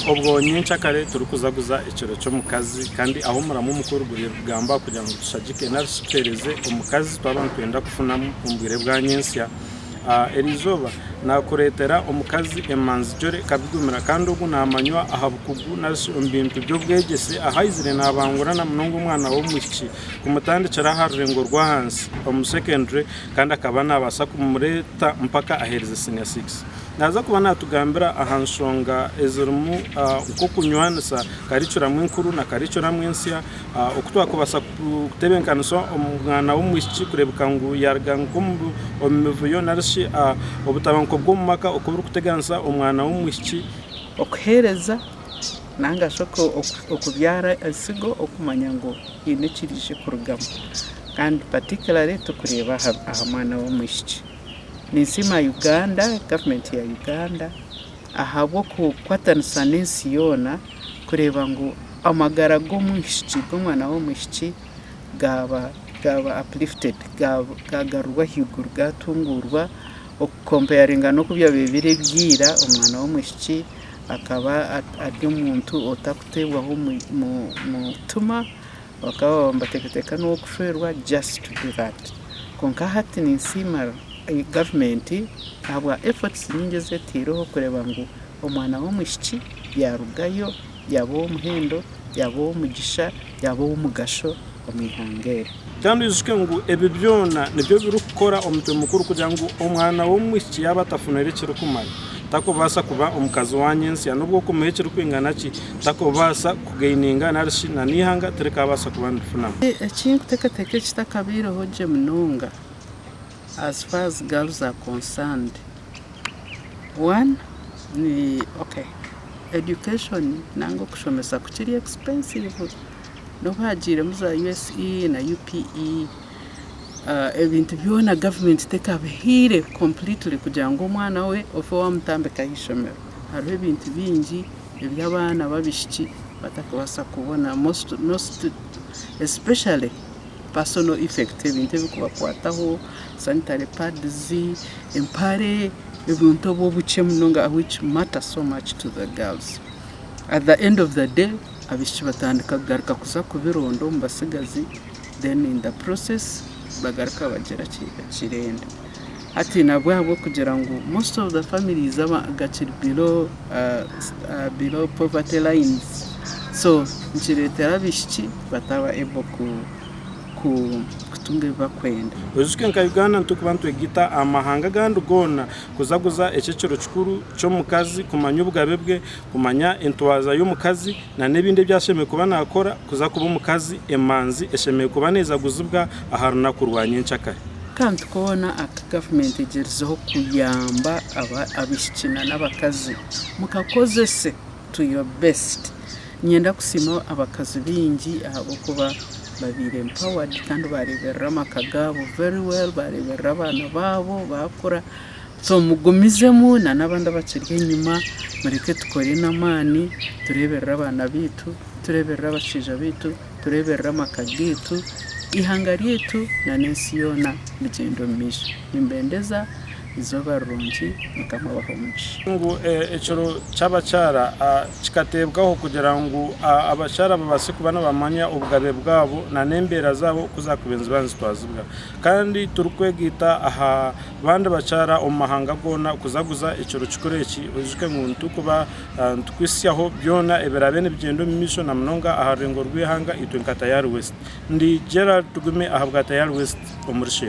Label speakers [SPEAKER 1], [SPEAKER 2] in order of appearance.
[SPEAKER 1] Obwo nyenkyakare turikuzaguza ekiro ky'omukazi kandi aho omuramwa omukuru guriyo nigugamba kugira ngu tushagike nari shi tuheereze omukazi twaba nitwenda kufunamu omu bwire bwa nyentsya. Eri izooba naakureetera omukazi emanzigyore ekabigumira kandi ogu naamanywa aha bukugu nari shi omu bintu by'obwegyese ahu aizire naabangura na munonga omwana w'omwishiki kumutandikira aha rurengo rw'ahansi omu secondary kandi akaba naabaasa kumureeta mpaka aheereze senior six. Naaza kuba naatugambira aha nshonga ezirimu nk'okunywanisa karikiramu enkuru na karikiramu ensya, oku twakubaasa kutebenkanisa omwana w'omwishiki kureebeka ngu yaaruga nk'omu mivuyo nari shi obutabanguko bw'omu maka oku burikuteganisa omwana w'omwishiki. Okuheereza
[SPEAKER 2] nari shi okubyara entsigo okumanya ngu haine ekiraije kurugamu kandi particularly turikureeba aha mwana w'omwishiki. ninsiima Uganda government ya Uganda ahabw'okukwatanisa n'ensi yoona kureeba ngu amagara g'omwishiki g'omwana w'omwishiki gaaba gaaba uplifted gaagarurwa ahaiguru gaatunguurwa oku comparinga n'oku byabaire biri ira omwana w'omwishiki akaba ari omuntu otarikuteebwaho mutima Bakaba nibateekateeka n'ow'okushwerwa just to do that. Kwonka hati ninsiima gavumenti ahabwa efforts nyingi ezi etaireho kureeba ngu omwana w'omwishiki yaarugayo yaaba ow'omuhendo, yaaba ow'omugisha, yaaba ow'omugasho omu ihanga eri. Kandi oijuke
[SPEAKER 1] ngu ebi byona nibyo birikukora omutwe mukuru kugira ngu omwana w'omwishiki yaaba atafunire ekirikumara, takubaasa kuba omukazi wa nyentsya n'obu okumuha ekirikwingana ki, takubaasa. kugaininga nari shi na n'eihanga tirikaabaasa kuba nirifunamu. Eki nkuteekateeka
[SPEAKER 2] ekitakabaireho gye munonga as far as girls are concerned. One ni okay education nanga okushomesa ku kiri expensive n'obu hagiiremu za USE na UPE ebintu byona government tekabihaire completely kugira ngu omwana we ofe waamutambika aha ishomero hariho ebintu bingi. ebi abaana babishiki batakubasa kubona most especially personal effect ebintu ebikubakwataho sanitary pads, empare ebintu obu obukye munonga which matter so much to the girls at the end of the day abishiki batandika kugaruka kuza kubironda omu batsigazi then in the process bagaruka bagira ki ekiremba. Hati nahabwahabwo kugira ngu most of the families gakiri below below poverty lines so nikiretera abishiki bataba able ku ku kutunga ebibakwenda. Oizooke nka Uganda
[SPEAKER 1] nitukuba nitwegita aha mahanga agandi goona kuzaguza ekyo ekiro kikuru kyomukazi kumanya obugabe bwe, kumanya entwaza yomukazi na nebindi ebi ashemereire kuba nakora kuza kuba omukazi emanzi eshemereire kuba nezaguzibwa aha runaku rwa nyenkyakare. Akantu koona
[SPEAKER 2] aku gavumenti egyerizeho kuyamba abaishiki n'abakazi mukakozese to your best. Niinyenda kusiima abakazi baingi ahabw'okuba baabaire empowered kandi baareeberera amaka gaabo very well, baareeberera abaana baabo baakura. So mugumizemu na n'abandi abakiri enyima mureke tukore n'amaani tureeberere abaana baitu, tureeberere abashaija baitu. tureeberere amaka gaitu, eihanga ryaitu nana ensi yoona bigyende omu maisho. Nimbendeza eizooba rirungi. Mukama abahe omugisha. Ngu ekiro
[SPEAKER 1] ky'abakyara kikateebwaho kugira ngu abakyara babaase kuba nibamanya obugabe bwabo nana embeera zaabo ku zaakubaire niziba nizitwazibwa. Kandi turikwegaita aha bandi bakyara omu mahanga goona kuzaguza ekiro kikuru eki. Oyijuke ngu nitukuba. Nitukwitsyaho byona ebiraabe nibigyenda omu maisho na munonga aha rureengo rw'eihanga itwe nka Tayari West. Ndi Gerald Tugume ahabwa Tayari West omuri Sheema.